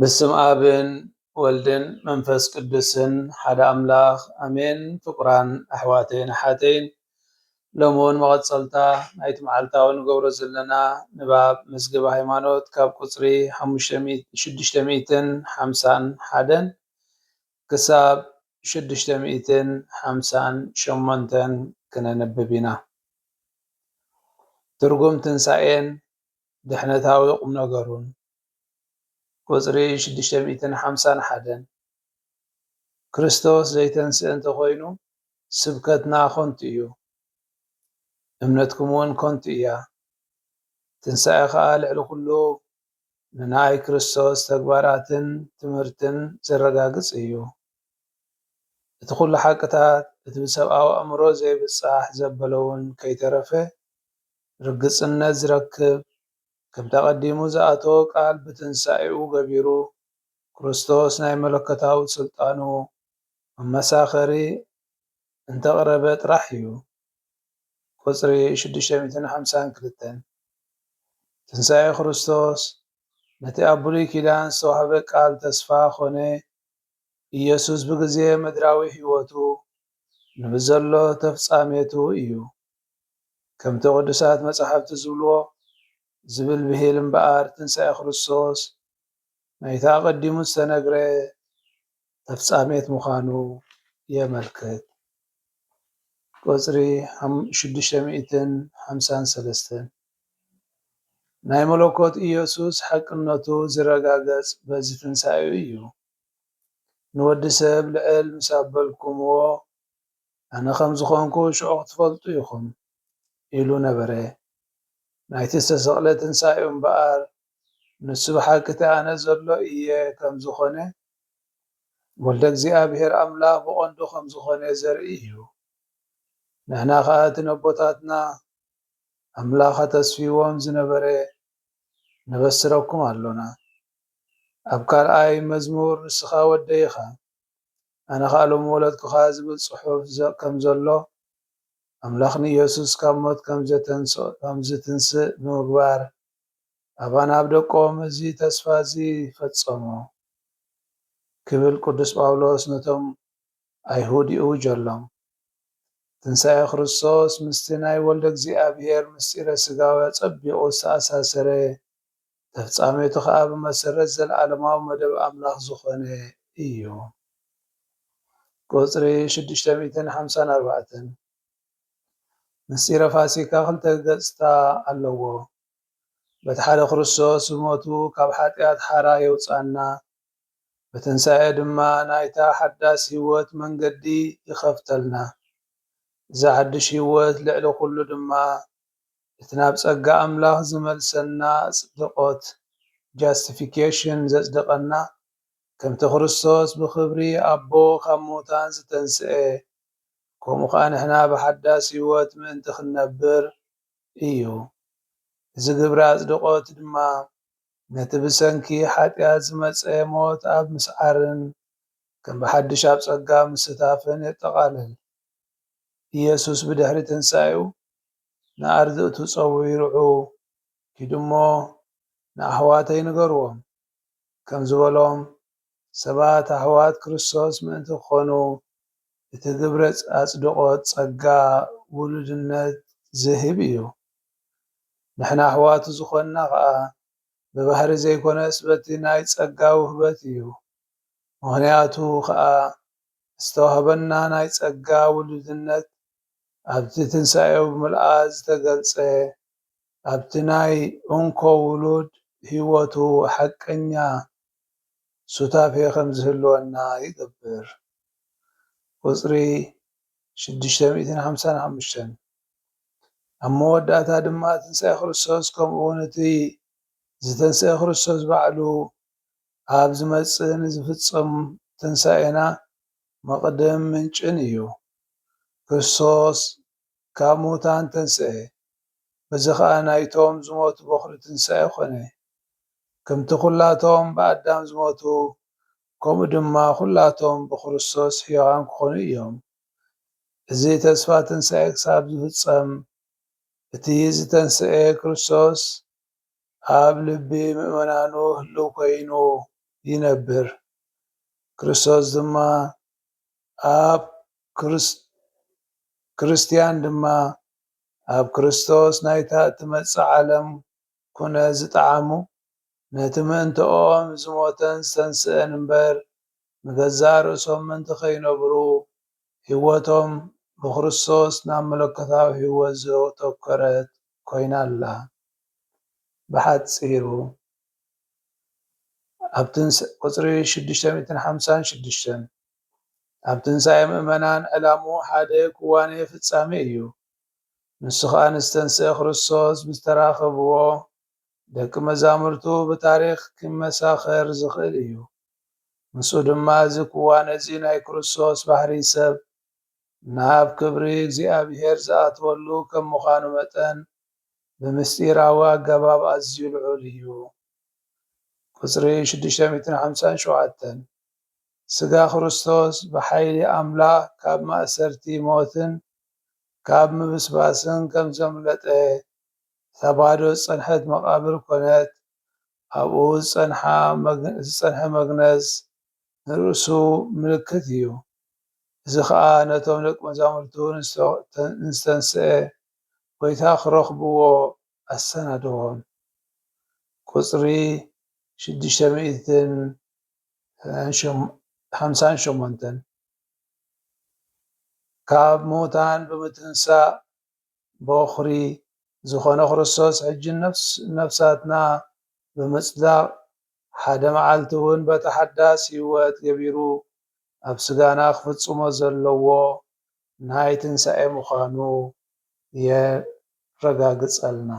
ብስም ኣብን ወልድን መንፈስ ቅዱስን ሓደ ኣምላኽ ኣሜን ፍቁራን ኣሕዋተይን ኣሓተይን ሎሚ ውን መቐጸልታ ናይቲ መዓልታዊ ንገብሮ ዘለና ንባብ መዝገበ ሃይማኖት ካብ ቁጽሪ ሽዱሽተ ሚእትን ሓምሳን ሓደን ክሳብ ሽዱሽተ ሚእትን ሓምሳን ሸሞንተን ክነንብብ ኢና ትርጉም ትንሳኤን ድሕነታዊ ቁምነገሩን ቁጽሪ ሽዱሽተ ሚእትን ሓምሳን ሓደን፣ ክርስቶስ ዘይተንስእ እንተ ዀይኑ፣ ስብከትና ኸንቱ እዩ፣ እምነትኩምውን ከንቱ እያ። ትንሳኤ ኸኣ ልዕሊ ዅሉ ንናይ ክርስቶስ ተግባራትን ትምህርትን ዜረጋግጽ እዩ። እቲ ዅሉ ሓቅታት፣ እቲ ብሰብኣዊ ኣእምሮ ዘይብጻሕ ዘበለውን ከይተረፈ ርግጽነት ዚረክብ ከምቲ ኣቐዲሙ ዝኣተዎ ቃል ብትንሳኤኡ ገቢሩ ክርስቶስ ናይ መለኮታዊ ስልጣኑ መመሳኸሪ እንተቕረበ ጥራሕ እዩ። ቁጽሪ ሽዱሽተ ሚእትን ሓምሳን ክልተን፣ ትንሳኤ ክርስቶስ ነቲ ኣብ ብሉይ ኪዳን ዝተዋህበ ቃል ተስፋ ኮነ። ኢየሱስ ብግዜ ምድራዊ ሕይወቱ ንብዘሎ ተፍጻሜቱ እዩ። ከምቲ ቅዱሳት መጻሕፍቲ ዝብልዎ ዝብል ብሂል እምበኣር ትንሳኤ ክርስቶስ ናይቲ ኣቐዲሙ ዝተነግረ ተፍጻሜት ምዃኑ የመልክት። ቁጽሪ ሽዱሽተ ሚእትን ሓምሳን ሰለስተን ናይ መለኮት ኢየሱስ ሓቅነቱ ዝረጋገጽ በዚ ትንሳኤኡ እዩ። ንወዲ ሰብ ልዕል ምስ ኣበልኩምዎ ኣነ ኸም ዝዀንኩ ሽዑ ኽትፈልጡ ኢኹም ኢሉ ነበረ። ናይቲ ዝተሰቕለ ትንሳኤኡ እምበኣር፣ ንሱ ብሓቂ እቲ ኣነ ዘሎ እየ ከም ዝዀነ፣ ወልደ እግዚኣብሄር ኣምላኽ ብቐንዱ ኸም ዝዀነ ዘርኢ እዩ። ንሕና ኸኣ እቲ ነቦታትና ኣምላኽ ኣተስፊዎም ዝነበረ ነበስረኩም ኣሎና። ኣብ ካልኣይ መዝሙር ንስኻ ወደይ ኢኻ። ኣነ ኸኣ ሎሚ ወለድኩኻ ዝብል ጽሑፍ ከም ዘሎ፣ ኣምላኽ ንየሱስ ካብ ሞት ከም ዚትንስእ ብምግባር፣ ኣባና ኣብ ደቆም እዚ ተስፋ እዚ ፈጸሞ ክብል ቅዱስ ጳውሎስ ነቶም ኣይሁድ ይእውጀሎም። ትንሳኤ ክርስቶስ ምስቲ ናይ ወልደ እግዚኣብሔር ምስጢረ ሥጋዌ ኣጸቢቑ ዝተኣሳሰረ ተፍጻሜቱ ኸኣ ብመሰረት ዘለኣለማዊ መደብ ኣምላኽ ዝኾነ እዩ። ቁጽሪ ሽዱሽተ ሚእትን ሓምሳን ኣርባዕተን ምስጢረ ፋሲካ ክልተ ገጽታ ኣለዎ። በቲ ሓደ ክርስቶስ ብሞቱ ካብ ሓጢኣት ሓራ የውጽኣና፣ ብትንሳኤ ድማ ናይታ ሓዳስ ህይወት መንገዲ ይኸፍተልና። እዛ ሓድሽ ህይወት ልዕሊ ኩሉ ድማ እቲ ናብ ጸጋ ኣምላኽ ዝመልሰና ኣጽድቖት፣ Justification፣ ዘጽደቐና፣ ከምቲ ክርስቶስ ብኽብሪ ኣቦ ካብ ምዉታን ዝተንስኤ፣ ከምኡ ኸኣ ንሕና ብሓዳስ ህይወት ምእንቲ ክንነብር እዩ። እዚ ግብሪ ኣጽድቖት ድማ ነቲ ብሰንኪ ሓጢኣት ዝመጸ ሞት ኣብ ምስዓርን ከም ብሓድሽ ኣብ ጸጋ ምስታፍን የጠቓልል። ኢየሱስ ብድሕሪ ትንሣኤኡ ንኣርድእቱ ጸዊርዑ ኪዱ እሞ ንኣሕዋተይ ንገርዎም ከም ዝበሎም ሰባት ኣሕዋት ክርስቶስ ምእንቲ ክኾኑ እቲ ግብረ ኣጽድቆት ጸጋ ውሉድነት ዝህብ እዩ። ንሕና ኣሕዋቱ ዝኾንና ከኣ ብባህሪ ዘይኮነስ በቲ ናይ ጸጋ ውህበት እዩ ምክንያቱ ከኣ ዝተዋህበና ናይ ጸጋ ውሉድነት ኣብቲ ትንሳኤኡ ብምልኣት ዝተገልጸ፣ ኣብቲ ናይ እንኮ ውሉድ ሕይወቱ ሓቀኛ ሱታፌ ከምዝህልወና ይገብር። ቁጽሪ ሽዱሽተ ሚእትን ሓምሳን ሓሙሽተን። ኣብ መወዳእታ ድማ ትንሳኤ ክርስቶስ ከምኡውን እቲ ዝተንስኤ ክርስቶስ ባዕሉ ኣብ ዝመጽእን ዝፍጸም ትንሳኤና መቕድም ምንጭን እዩ። ክርስቶስ ካብ ምዉታን ተንስኤ፣ በዚ ኸኣ ናይቶም ዝሞቱ በዅሪ ትንሳኤ ዀነ። ከምቲ ኵላቶም ብኣዳም ዝሞቱ፣ ከምኡ ድማ ኵላቶም ብክርስቶስ ሕያዋን ክዀኑ እዮም። እዚ ተስፋ ትንሳኤ ክሳብ ዝፍጸም፣ እቲ ዝተንስኤ ክርስቶስ ኣብ ልቢ ምእመናኑ ህልው ኮይኑ ይነብር። ክርስቶስ ድማ ኣብ ክርስ ክርስትያን ድማ ኣብ ክርስቶስ ናይታ እትመጽእ ዓለም ኩነት ዝጠዓሙ ነቲ ምእንተኦም ዝሞተን ዝተንስእን እምበር ንገዛእ ርእሶም ምእንቲ ከይነብሩ ሕይወቶም ብክርስቶስ ናብ መለኮታዊ ሕይወት ዘተኮረት ኮይና ኣላ። ብሓጺሩ ኣብ ትንሳኤ ቁጽሪ ሽዱሽተ ሚእትን ሓምሳን ሽዱሽተን ኣብ ትንሳኤ ምእመናን ዕላምኡ ሓደ ክዋኔ ፍጻሜ እዩ። ንሱ ኸኣ ምስ ዝተንስኤ ክርስቶስ ብዝተራኸብዎ ደቂ መዛሙርቱ ብታሪኽ ኪመሳኸር ዝኽእል እዩ። ምስኡ ድማ እዚ ክዋኔ እዚ ናይ ክርስቶስ ባህርይ ሰብ ናብ ክብሪ እግዚኣብሔር ዝኣትወሉ ከም ምዃኑ መጠን ብምስጢራዊ ኣገባብ ኣዝዩ ልዑል እዩ። ቁጽሪ ሽዱሽተ ሚእትን ሓምሳን ሸውዓተን፣ ሥጋ ክርስቶስ ብኃይሊ ኣምላኽ ካብ ማእሰርቲ ሞትን ካብ ምብስባስን ከም ዘምለጠ፣ እታ ባዶ ዝጸንሐት መቓብር ኮነት፣ ኣብኡ ዝጸንሐ መግነዝ፣ ንርእሱ ምልክት እዩ። እዚ ኸኣ ነቶም ደቂ መዛሙርቱ ንዝተንስኤ ጐይታ ኺረኽብዎ ኣሰናደዎም። ቍጽሪ ሽዱሽተ ሚእትን ሓምሳን ሸሞንተን፣ ካብ ምዉታን ብምትንሳእ በዅሪ ዝዀነ ክርስቶስ ሕጂ ነፍሲ ነፍሳትና ብምጽዳቕ ሓደ መዓልቲ እውን በቲ ሓዳስ ህይወት ገቢሩ ኣብ ስጋና ክፍጽሞ ዘለዎ ናይ ትንሳኤ ምዃኑ የረጋግጸልና።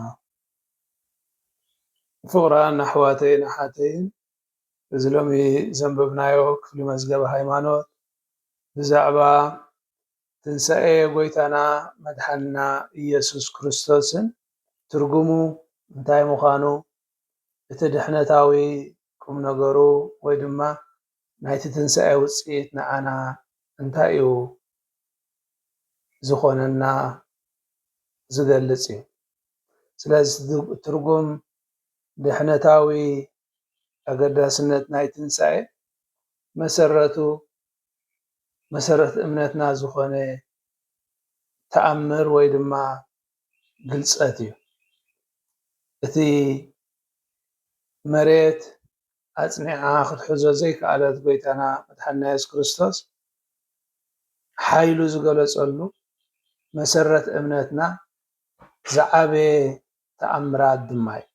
ፍቕራን ኣሕዋተይን ኣሓተይን፣ እዚ ሎሚ ዘንበብናዮ ክፍሊ መዝገበ ሃይማኖት ብዛዕባ ትንሳኤ ጐይታና መድሓንና ኢየሱስ ክርስቶስን ትርጉሙ እንታይ ምዃኑ፣ እቲ ድሕነታዊ ቁም ነገሩ ወይ ድማ ናይቲ ትንሳኤ ውጽኢት ንዓና እንታይ እዩ ዝኾነና ዝገልጽ እዩ። ስለዚ ትርጉም ድሕነታዊ ኣገዳስነት ናይ ትንሳኤ መሰረቱ መሰረት እምነትና ዝኾነ ተኣምር ወይ ድማ ግልፀት እዩ። እቲ መሬት ኣፅኒዓ ክትሕዞ ዘይከኣለት ጎይታና መድሓኒና የሱስ ክርስቶስ ሓይሉ ዝገለፀሉ መሰረት እምነትና ዝዓበየ ተኣምራት ድማ እዩ።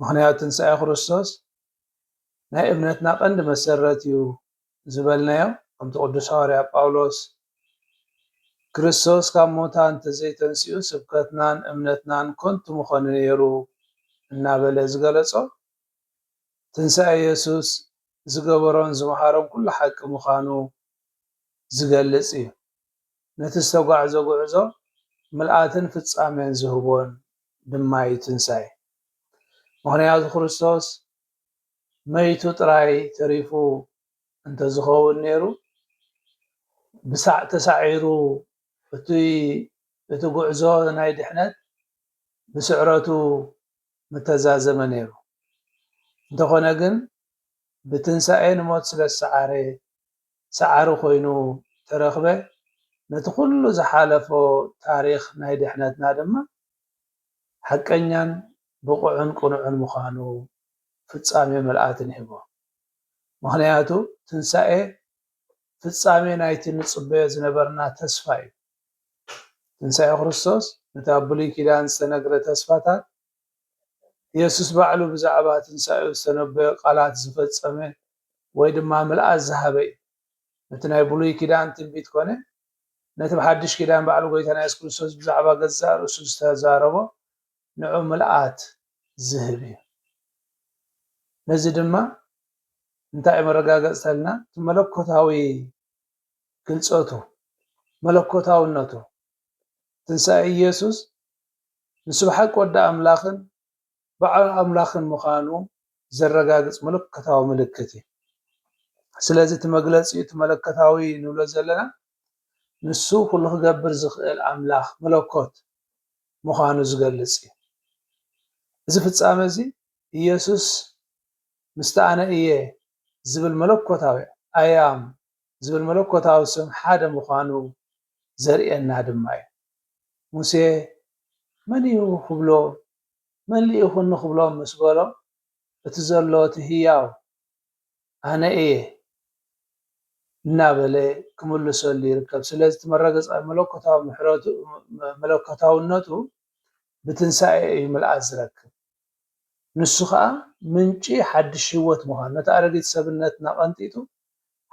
ምኽንያቱ ትንሳኤ ክርስቶስ ናይ እምነትና ቀንዲ መሰረት እዩ ዝበልናዮ ከምቲ ቅዱስ ሃዋርያ ጳውሎስ ክርስቶስ ካብ ሙታን እንተዘይተንሲኡ ስብከትናን እምነትናን ከንቱ ምኾነ ነይሩ እናበለ ዝገለጾ ትንሣኤ የሱስ ዝገበሮን ዝመሃሮን ኩሉ ሓቂ ምዃኑ ዝገልጽ እዩ። ነቲ ዝተጓዕዞ ጉዕዞ ምልኣትን ፍጻሜን ዝህቦን ድማ እዩ ትንሳኤ። ምኽንያቱ ክርስቶስ መይቱ ጥራይ ተሪፉ እንተዝኸውን ነይሩ ብሳዕ ተሳዒሩ እቲ እቲ ጉዕዞ ናይ ድሕነት ብስዕረቱ ምተዛዘመ ነይሩ። እንተኾነ ግን ብትንሳኤ ንሞት ስለዝሰዓረ ሰዓሪ ኮይኑ ተረኽበ፣ ነቲ ኩሉ ዝሓለፎ ታሪኽ ናይ ድሕነትና ድማ ሓቀኛን ብቑዕን ቅኑዕን ምዃኑ ፍጻሜ ምልኣት ንሂቦ። ምኽንያቱ ትንሳኤ ፍጻሜ ናይቲ ንጽበዮ ዝነበርና ተስፋ እዩ። ትንሳኤ ክርስቶስ ነቲ ኣብ ብሉይ ኪዳን ዝተነግረ ተስፋታት የሱስ ባዕሉ ብዛዕባ ትንሳኤኡ ዝተነበዮ ቓላት ዝፈጸመ ወይ ድማ ምልኣት ዝሃበ እዩ። ነቲ ናይ ብሉይ ኪዳን ትንቢት ኮነ ነቲ ብሓድሽ ኪዳን ባዕሉ ጎይታና የሱስ ክርስቶስ ብዛዕባ ገዛእ ርእሱ ዝተዛረቦ ንዑ ምልኣት ዝህብ እዩ። ነዚ ድማ እንታይ መረጋገጽተልና እቲ መለኮታዊ ግልጸቱ መለኮታውነቱ ትንሳኤ ኢየሱስ ንሱ ብሓቂ ወዲ ኣምላኽን በዓል ኣምላኽን ምዃኑ ዘረጋግጽ ምልኮታዊ ምልክት እዩ። ስለዚ እቲ መግለጺኡ እቲ መለኮታዊ ንብሎ ዘለና ንሱ ኩሉ ክገብር ዝኽእል ኣምላኽ፣ መለኮት፣ ምዃኑ ዝገልጽ እዩ። እዚ ፍጻመ እዚ ኢየሱስ ምስቲ ኣነ እየ ዝብል መለኮታዊ፣ I am፣ ዝብል መለኮታዊ ስም ሓደ ምዃኑ ዘርእየና ድማ እዩ። ሙሴ መን እዩ ክብሎ መሊእኹኒ ክብሎም ምስ በሎም እቲ ዘሎ እቲ ህያው ኣነ እየ እናበለ ክምልሰሉ ይርከብ። ስለዚ እቲ መረገጻ መለኮታዊ መለኮታውነቱ ብትንሳኤ እዩ ምልኣት ዝረክብ። ንሱ ከኣ ምንጪ ሓድሽ ህይወት ምዃኑ፣ ነታ ኣረጊት ሰብነትና ቀንጢጡ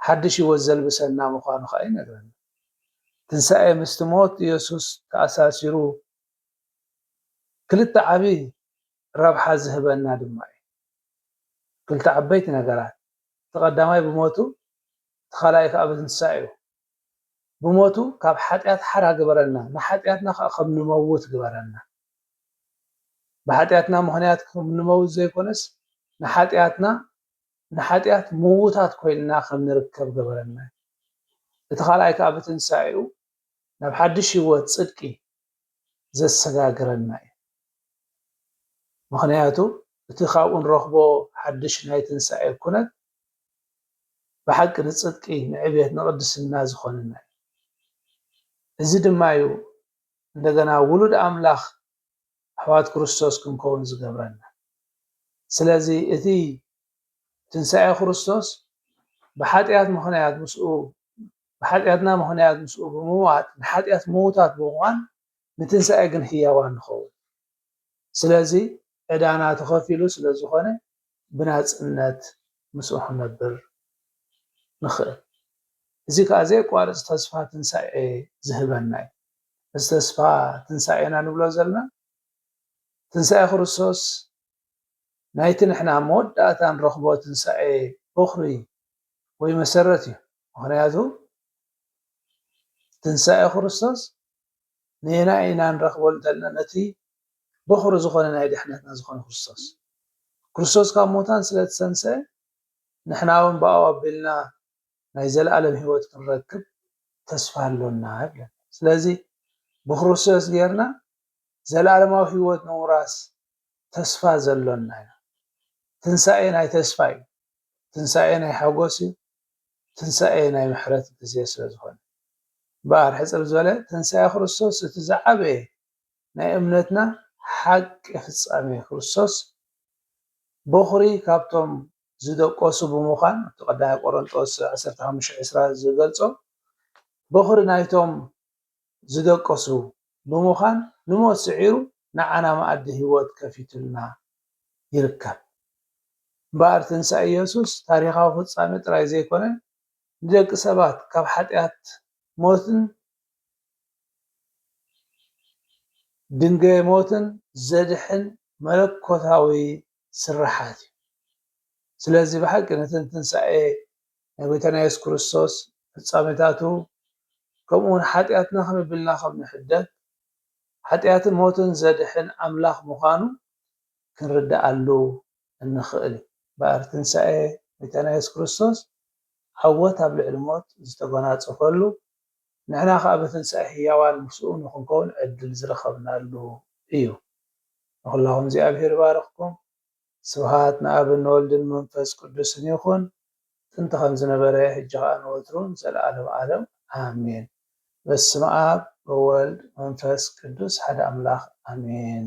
ሓድሽ ህይወት ዘልብሰና ምዃኑ ከኣ ይነግረና። ትንሳኤ ምስቲ ሞት የሱስ ተኣሳሲሩ ክልተ ዓቢ ረብሓ ዝህበና ድማ እዩ። ክልተ ዓበይቲ ነገራት፣ እቲ ቀዳማይ ብሞቱ እቲ ካልኣይ ከኣ ብትንሳኤኡ። ብሞቱ ካብ ሓጢኣት ሓራ ግበረልና፣ ንሓጢኣትና ኸኣ ከም ንመውት ግበረና። ብሓጢኣትና ምኽንያት ከም ንመውት ዘይኮነስ፣ ንሓጢኣትና ንሓጢኣት ምውታት ኮይንና ከም ንርከብ ግበረና። እቲ ካልኣይ ከኣ ብትንሳኤኡ ናብ ሓድሽ ህይወት ጽድቂ ዘሰጋግረና እዩ። ምኽንያቱ እቲ ካብኡ ንረኽቦ ሓድሽ ናይ ትንሣኤ ኩነት ብሓቂ ንጽድቂ፣ ንዕቤት፣ ንቕድስና ዝኾነና እዩ። እዚ ድማ እዩ እንደገና ውሉድ ኣምላኽ ኣሕዋት ክርስቶስ ክንከውን ዝገብረና። ስለዚ እቲ ትንሣኤ ክርስቶስ ብሓጢኣት ምኽንያት ምስኡ ብሓጢኣትና ምኽንያት ምስኡ ብምሟት ንሓጢኣት ምዉታት ብምዃን ንትንሳኤ ግን ህያዋን ንኸውን። ስለዚ ዕዳና ተኸፊሉ ስለ ዝኾነ ብናጽነት ምስኡ ክንነብር ንኽእል። እዚ ከኣ ዘየቋርጽ ተስፋ ትንሳኤ ዝህበና እዩ። እዚ ተስፋ ትንሳኤ ኢና ንብሎ ዘለና። ትንሳኤ ክርስቶስ ናይቲ ንሕና ኣብ መወዳእታ ንረኽቦ ትንሳኤ ቦኽሪ ወይ መሰረት እዩ። ምኽንያቱ ትንሳኤ ክርስቶስ ነየናይ ኢና ንረኽቦ እንተልና ነቲ በኹሪ ዝኾነ ናይ ድሕነትና ዝኾነ ክርስቶስ ክርስቶስ ካብ ሙታን ስለ ተሰንሰ ንሕና እውን ብኣው ኣቢልና ናይ ዘለኣለም ህይወት ክንረክብ ተስፋ ኣሎና ይብለና ስለዚ ብክርስቶስ ጌርና ዘለኣለማዊ ህይወት ንምውራስ ተስፋ ዘሎና ኢና ትንሳኤ ናይ ተስፋ እዩ ትንሳኤ ናይ ሓጎስ እዩ ትንሳኤ ናይ ምሕረት ግዜ ስለ ዝኾነ እምበኣር ሕጽር ዝበለ ትንሳኤ ክርስቶስ እቲ ዝዓበየ ናይ እምነትና ሓቂ ፍጻሜ ክርስቶስ ቦኽሪ ካብቶም ዝደቆሱ ብምዃን ኣብቲ ቀዳማይ ቆሮንጦስ ዓሰርተ ሓሙሽተ ዕስራ ዝገልጾ ቦኽሪ ናይቶም ዝደቀሱ ብምዃን ንሞት ስዒሩ ንዓና መኣዲ ህይወት ከፊቱልና ይርከብ። እምበኣር ትንሳኤ የሱስ ታሪኻዊ ፍጻሜ ጥራይ ዘይኰነ፣ ንደቂ ሰባት ካብ ሓጢኣት፣ ሞትን ድንጋየ ሞትን ዘድሕን መለኮታዊ ስርሓት እዩ። ስለዚ ብሓቂ ነተን ትንሳኤ ናይ ጎይታና የሱስ ክርስቶስ ፍጻሜታቱ ከምኡውን ሓጢኣትና ከመይ ቢልና ከም ንሕደግ ሓጢኣትን ሞትን ዘድሕን ኣምላኽ ምዃኑ ክንርድኣሉ እንኽእል እዩ። እምበኣር ትንሳኤ ጎይታና የሱስ ክርስቶስ ዓወት ኣብ ልዕሊ ሞት ዝተጎናጸፈሉ ንሕና ኸኣ ብትንሳኤ ህያዋን ምስኡ ንኽንከውን ዕድል ዝረኸብናሉ እዩ። ንኹላኹም እግዚኣብሄር ይባርኽኩም። ስብሃት ንኣብን ንወልድን ንመንፈስ ቅዱስን ይኹን ጥንቲ ከም ዝነበረ ሕጂ ኸኣ ንወትሩ ንዘለኣለም ኣለም ኣሜን። በስመኣብ በወልድ መንፈስ ቅዱስ ሓደ ኣምላኽ ኣሜን።